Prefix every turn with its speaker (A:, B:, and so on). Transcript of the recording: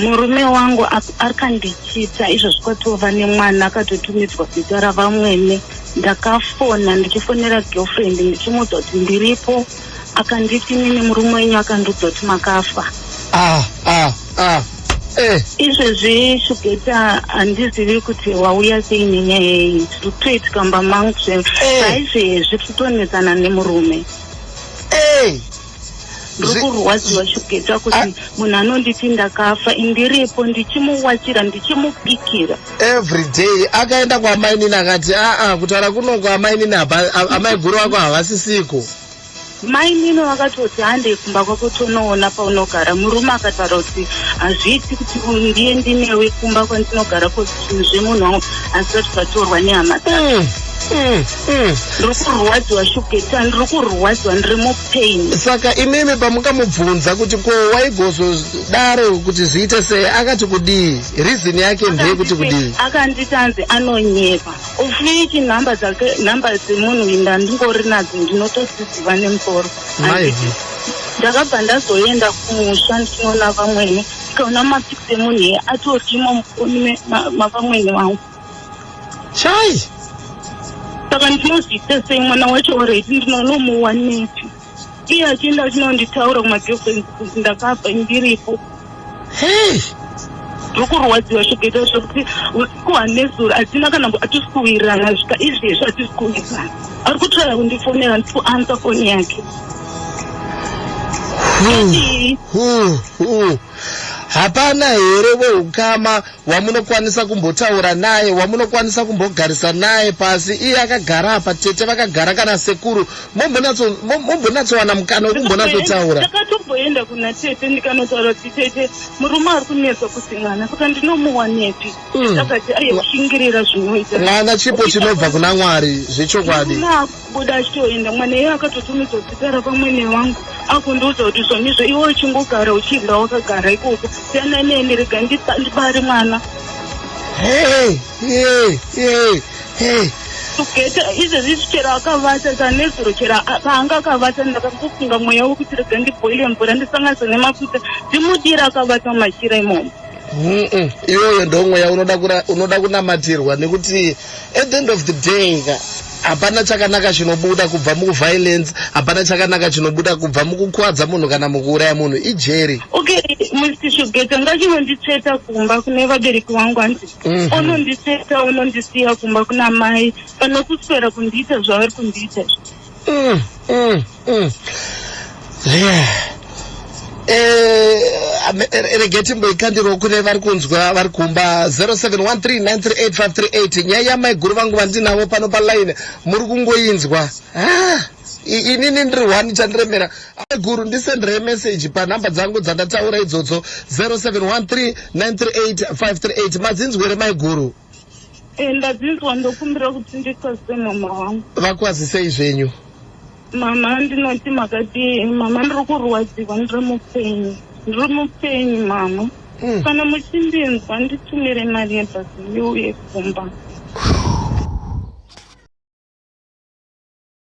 A: murume wangu akandichita izvozvi kwatova nemwana akatotumidzwa zita ravamwene ndakafona ndichifonera girlfriend ndichimuudza kuti ndiripo akanditi nini murume wenyu akandiudza kuti makafa ah, ah, ah. Eh. izvezvi shugeta handizivi kuti wauya sei nenyaya yeyi zviri kutoitika mba mangu zve eh. saizvezvi kutonetsana nemurume eh. ndiri kurwadziwa shugeta kuti ah. munhu anonditi ndakafa ndiripo ndichimuwachira ndichimupikira every day
B: akaenda kwaamainini akati aa ah, ah, kutaura kunoko amainini amaiguru vako havasisiko mainini
A: vakatoti handei kumba kwako tonoona paunogara murume akataura kuti hazviiti kuti ndiye ndinewe kumba kwandinogara kozvinhu zvemunhu wangu asi vati zvatorwa nehama dzake hmm, hmm. Mm. ndiri kurwadziwa shugeta ndiri kurwadziwa ndiri mupain saka imimi
B: pamukamubvunza kuti ko waigozodaro kuti zviite sei akati kudii reason yake ndeye kuti kudii akanditi anzi
A: anonyepa ofiki nhamba dzake nhamba dzemunhu uyu ndandingori nadzo ndinotodziziva nemusoro maivi ndakabva ndazoenda kumusha ndinoona vamwene tikaona mapikisi emunhu iye atorimo mufoni mavamwene vangu
B: chai
A: saka ndinozviita sei mwana wacho oredi ndinonomuwanepi iye achienda achinonditaura kumagirlfriends kuti ndakabva ndiripo hey tiri kurwadziwa zvikaita zvekuti usiku hanezuro hatina kana hatisi kuwirirana zvika izvezvi hatisi kuwirirana ari kutsvaya kundifonera ndiri kuansa foni yake
B: hapana here voukama wamunokwanisa kumbotaura naye wamunokwanisa kumbogarisa naye pasi iye akagara apa tete vakagara kana sekuru mombonatsowana mukana wekumbonatsotaura ndakatomboenda kuna
A: tete ndikanotaura kuti tete murume ari kunetsa kuti mwana saka ndinomuwanepi hmm. akati aye kushingirira zvinoita mwana chipo chinobva
B: kuna mwari zvechokwadi kubuda
A: achitoenda mwana iye akatotumidza zita rapamwene wangu akundiudza kuti zvonizvo iwe uchingogara uchidya wakagara ikoko siyana neni rega ndibari mwana tugeta izvezvi chero akavata sanezuro chero paanga akavata ndakangofunga mweya wekuti rega ndibhoile mvura ndisanganise nemafuta ndimudira akavata machira imomo
B: iyoyo ndomweya unoda kunamatirwa nekuti at the end of the day ka hapana chakanaka chinobuda kubva muviolence hapana chakanaka chinobuda kubva mukukwadza munhu kana mukuuraya munhu ijeri okay mr
A: shugeta ngachinonditsveta kumba kune vabereki vangu hanzi mhm. ononditsveta onondisiya kumba kuna mai panokuswera kundiita zvavari kundiita izvi mm, mm, mm. Yeah. Eh, rege timboikandirwo kune vari kunzwa vari kumba 0713938538 nyaya yamaiguru vangu vandinavo pano paline muri kungoinzwa ah, inini ndiri one chandiremera guru ndisendere meseji panhamba dzangu dzandataura idzodzo 0713938538 madzinzwere maiguru Eh, ndadzinzwa ndokumbira kuti ndikwazise mama wangu vakwazisei zvenyu
B: mama
A: ndinoti makati mama ndiri kurwadziwa ndiri mupenyu ndiri mupenyu mama hmm. kana muchindinzwa nditumire mari yebhasi ndiuye kumba